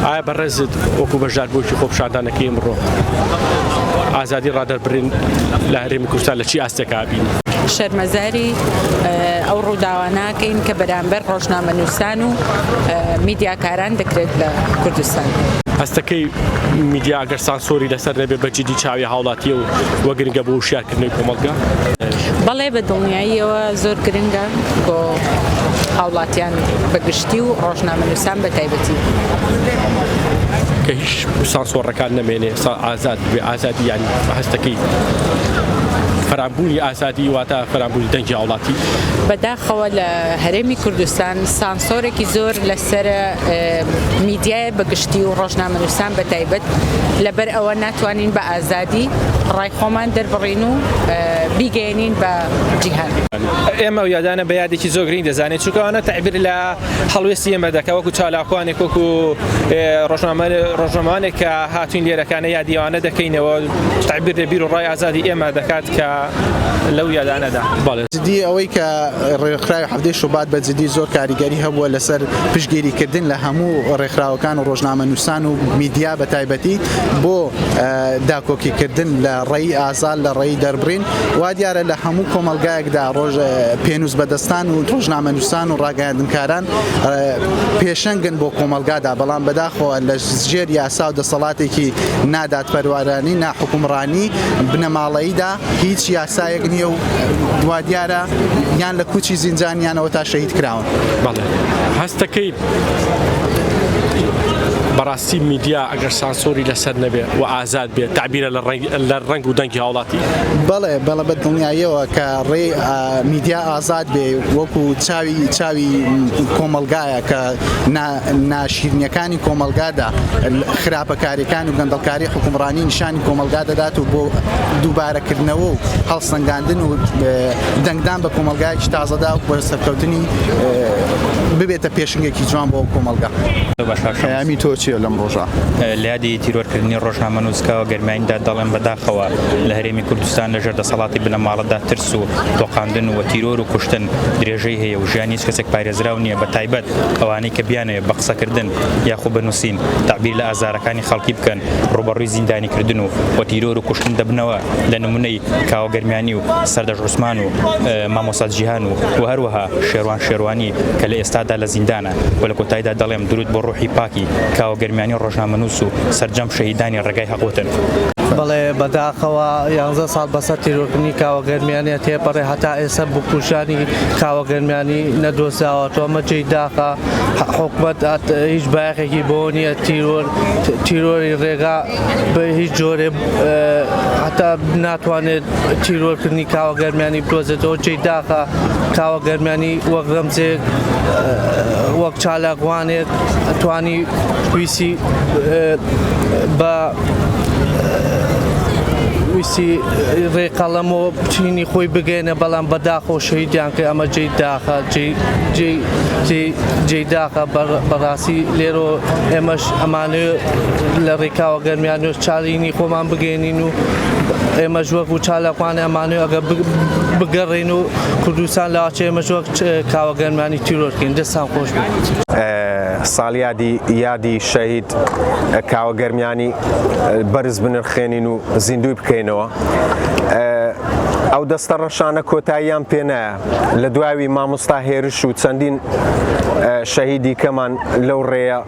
ئایا بەڕێزت وەکو بەشداربوویەکی خۆپیشاندانەکەی ئمڕۆ ئازادی ڕادەربرین لە هەرێمی کوردستان لە چی ئاستێکا بین؟ شەرمەزاری ئەو ڕووداواناکەین کە بەرامبەر ڕۆژنامە نووسان و میدیاکاران دەکرێت لە کوردستان. هەستەکەی میدیا ئەگەر سانسۆری لەسەر نەبێ بە جدی چاوی هاوڵاتیە و وە گرنگە بۆ وشیارکردنەوەی کۆمەڵگە؟ بەڵێ بە دڵنیاییەوە زۆر گرنگە. بۆ هاوڵاتیان بە گشتی و ڕۆژنامەنووسان بە تایبەتی. کە هیچ سانسۆڕەکان نەمێنێ سا ئازاد بێ ئازادی یان هەستەکەی فەرامبوونی ئازادی واتە فەرامبوونی دەنگی هاوڵاتی بەداخەوە لە هەرێمی کوردستان سانسۆرێکی زۆر لەسەر میدیایە بەگشتی و ڕۆژنامەنووسان بە تایبەت لەبەر ئەوە ناتوانین بە ئازادی ڕای خۆمان دەربڕین و بیگەیەنین بە جیهان. ئێمە ئەو یادانە بە یادێکی زۆر گرنگ دەزانین، چونکە ئەوانە تەعبیر لە هەڵوێستی ئێمە دەکەن وەکو چالاکوانێک، وەکو ڕۆژنامەوانێک کە هاتووین لێرەکانە یادی ئەوانە دەکەینەوە، تەعبیر لە بیر و ڕای ئازادی ئێمە دەکات کە لەو یادانەدا. جدی ئەوەی کە ڕێکخراوی حەڤدەی شوبات بە جدی زۆر کاریگەری هەبووە لەسەر پشتگیریکردن لە هەموو ڕێکخراوەکان و ڕۆژنامەنووسان و میدیا بە تایبەتی، بۆ داکۆکیکردن لە ڕێی ئازاد لە ڕێی دەربڕین وا دیارە لە هەموو کۆمەڵگایەکدا ڕۆژ پێنووس بەدەستان و ڕۆژنامە نووسان و ڕاگەیاندنکاران پێشەنگن بۆ کۆمەڵگادا بەڵام بەداخەوە لە ژێر یاسا و دەسەڵاتێکی نادادپەروارانەی ناحکومڕانی بنەماڵەییدا هیچ یاسایەک نییە و وا دیارە یان لە کوچی زینجانیانەوە تا شەهید کراون. بەڵێ هەست دەکەیت بەڕاستی میدیا ئەگەر سانسۆری لەسەر نەبێ و ئازاد بێ تعبیرە لە ڕەنگ لە ڕەنگ و دەنگی هاوڵاتی بەڵێ بەڵە بە دڵنیاییەوە کە ڕێ میدیا ئازاد بێ وەکو چاوی چاوی کۆمەلگایە کە ناشیرنیەکانی کۆمەلگادا خراپەکاریەکان و گەندەڵکاری حکومڕانی نیشانی کۆمەلگا دەدات و بۆ دووبارەکردنەوە و هەڵسەنگاندن و دەنگدان بە کۆمەلگایکی تازەدا و بە سەرکەوتنی ببێتە پێشنگێکی جوان بۆ کۆمەلگا. ئەمی تۆ چیە لەم ڕۆژە؟ لە یادی تیرۆرکردنی ڕۆژنامەنووسکەوە گەرمایندا دەڵێم بەداخەوە لە هەرێمی کوردستان لەژێر دەسەڵاتی بنەماڵەدا ترس و تۆقاندن و تیرۆر و کوشتن درێژەی هەیە و ژیانی هیچ کەسێک پارێزراو نییە بە تایبەت ئەوانەی کە بیانەوێت بە قسەکردن یاخود بە نووسین تەعبیر لە ئازارەکانی خەڵکی بکەن ڕووبەڕووی زیندانیکردن و و تیرۆر و کوشتن دەبنەوە لە نمونەی کاوە گەرمیانی و سەردەشت عوسمان و مامۆستا جیهان و و هەروەها شێروان شێروانی کە لە ئێستادا لە زیندانە. و لە کۆتایدا دەڵێم دروود بۆ ڕوحی پاکی کاوە گەرمیانی ڕۆژنامەنووس و سەرجەم شەهیدانی ڕێگای هەق وتن. بەڵێ بە داخەوە یانزە ساڵ بەسەر تیرۆرکردنی کاوە گەرمیانیا تێپەڕێ هەتا ئێسە بکوژانی کاوە گەرمیانی نەدۆزراوەتۆ ئەمە جێی داخە حوکمەت هیچ بایەخێکی بۆ نیە تیرۆر تیرۆری ڕێگا بە هیچ جۆرێ هەتا ناتوانێت تیرۆرکردنی کاوە گەرمیانی بدۆزێتەوە جێی داخە کاوە گەرمیانی وەک گەمجێک، وەک چالاکوانێک توانی ویستی بە ویستی ڕێ قەڵەم و چینی خۆی بگەێنە بەڵام بەداخۆ شەیدیان کە ئەمە جێی داخە جێی داخە بەڕاستی لێرۆ ئێمەش ئەمانێ لە ڕێکاوە گەرمیان نوێ چاڵینی خۆمان بگەین. نین و ئێمەش وەک و چالاکوان ئەمانوێ ئەگە بگەڕین و کوردستان لاچێ ئێمەش وەک کاوە گەرمانی تیرۆرکەین دەستان خۆش ساڵیادی یادی شەهید کاوە گەرمیانی بەرز بنرخێنین و زیندوی بکەینەوە ئەو دەستە ڕەشانە کۆتاییان پێنایە لە دواوی مامۆستا هێرش و چەندین شەهیدی کەمان لەو ڕێە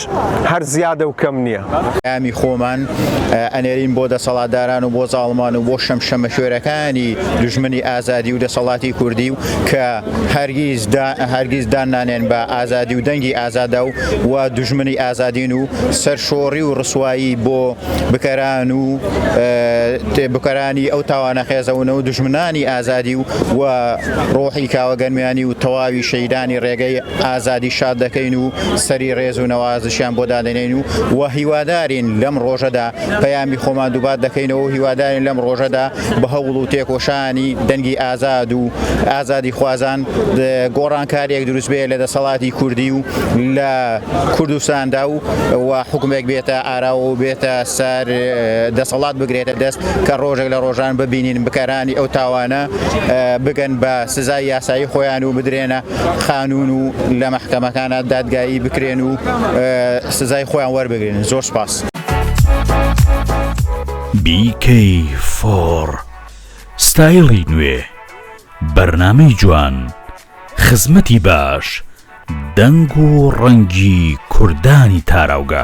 ئەوەش هەر زیادە و کەم نییە. پەیامی خۆمان ئەنێرین بۆ دەسەڵاتداران و بۆ زاڵمان و بۆ شەمشەمەکوێرەکانی دوژمنی ئازادی و دەسەڵاتی کوردی و کە هەرگیز هەرگیز دان نانێن بە ئازادی و دەنگی ئازادە و و دوژمنی ئازادین و سەرشۆڕی و ڕسوایی بۆ بکەران و بکەرانی ئەو تاوانە قێزەونە و دوژمنانی ئازادی و و ڕۆحی کاوە گەرمیانی و تەواوی شەهیدانی ڕێگەی ئازادی شاد دەکەین و سەری ڕێز و نەوازشیان بۆ دادەنێین و و هیوادارین لەم ڕۆژەدا پەیامی خۆمان دووبات دەکەینەوە و هیوادارین لەم ڕۆژەدا بە هەوڵ و تێکۆشانی دەنگی ئازاد و ئازادی خوازان گۆڕانکاریەک دروست بێ لە دەسەڵاتی کوردی و لە کوردستاندا و و حکومێک بێتە ئاراوە و بێتە سەر دەسەڵات بگرێتە دەست کە ڕۆژێک لە ڕۆژان ببینین بکەرانی ئەو تاوانە بگەن بە سزای یاسایی خۆیان و بدرێنە خانوون و لە مەحکەمەکانا دادگایی بکرێن و سزای خۆیان وەربگرن زۆر سپاس. BK4 ستایڵی نوێ، بەرنامەی جوان، خزمەتی باش، دەنگ و ڕەنگی کوردانی تاراوگە.